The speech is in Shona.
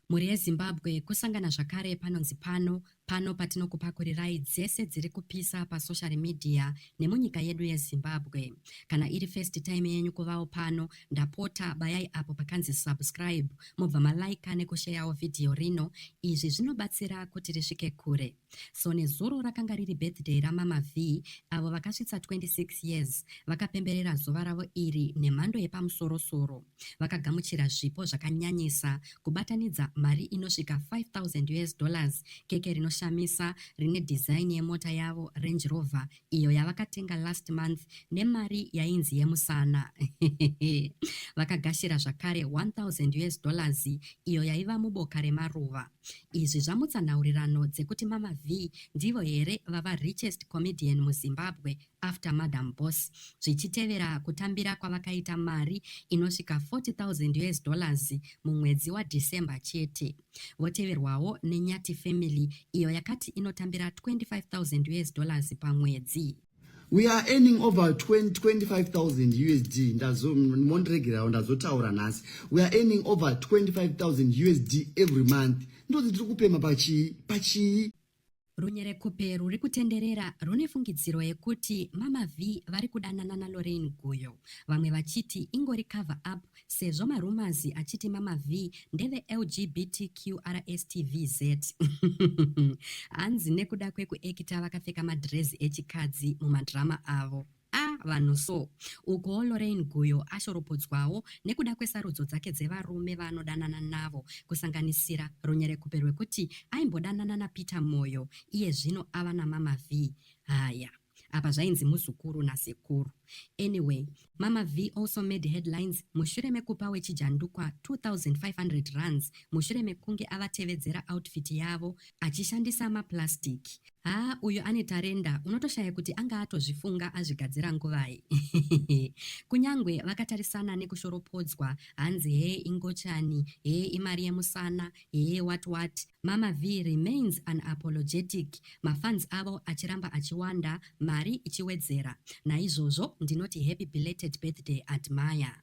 Mhuri yeZimbabwe kusangana zvakare panonzi pano, pano patinokupakurirai dzese dziri kupisa pasocial media nemunyika yedu yeZimbabwe. Kana iri first time yenyu kuvawo pano, ndapota bayai apo pakanzi subscribe mobva malaika nekusheyawo vhidhiyo rino, izvi zvinobatsira kuti risvike kure. So nezuro rakanga riri birthday ramama Vee avo vakasvitsa 26 years vakapemberera zuva ravo iri nemhando yepamusorosoro. Vakagamuchira zvipo zvakanyanyisa kubatanidza mari inosvika 5000 us dollars, keke rinoshamisa rine design yemota yavo Range Rover iyo yavakatenga last month nemari yainzi yemusana. Vakagashira zvakare 1000 us dollars iyo yaiva muboka remaruva. Izvi zvamutsa nhaurirano dzekuti Mama Vee ndivo here vava richest comedian muZimbabwe after Madam Boss zvichitevera kutambira kwavakaita mari inosvika 40,000 US dollars mumwedzi waDecember chete. Voteverwawo neNyati Family iyo yakati inotambira 25,000 US dollars pamwedzi. we are earning over 25000 usd ndazomondiregerawo ndazotaura nhasi we are earning over 25000 usd every month ndozi tiri kupema pachii pachii runyerekupe ruri kutenderera rune fungidziro yekuti mama v vari kudanana nalorain guyo vamwe vachiti ingori cover up Sezvo maRumors achiti Mama Vee ndeve LGBTQRSTVZ. Hanzi nekuda kwekuekita vakapfeka madhirezi echikadzi mumadrama avo. A vanhu so. Ukuwo Lorraine Guyo ashoropodzwawo nekuda kwesarudzo dzake dzevarume vaanodanana navo kusanganisira runyerekupe rwekuti aimbodanana naPeter Moyo iye zvino ava naMama Vee. Haya. Apa zvainzi muzukuru nasekuru. Anyway, Mama Vee also made headlines mushure mekupa wechijandukwa 2500 rands mushure mekunge avatevedzera outfit yavo achishandisa maplastic. Haa uyu ane tarenda unotoshaya kuti anga atozvifunga azvigadzira nguvai. Kunyangwe vakatarisana nekushoropodzwa hanzi hee ingochani, hee imari yemusana, Hee what what, Mama Vee remains unapologetic, mafans avo achiramba achiwanda, mari ichiwedzera. Naizvozvo ndinoti happy belated birthday Admire.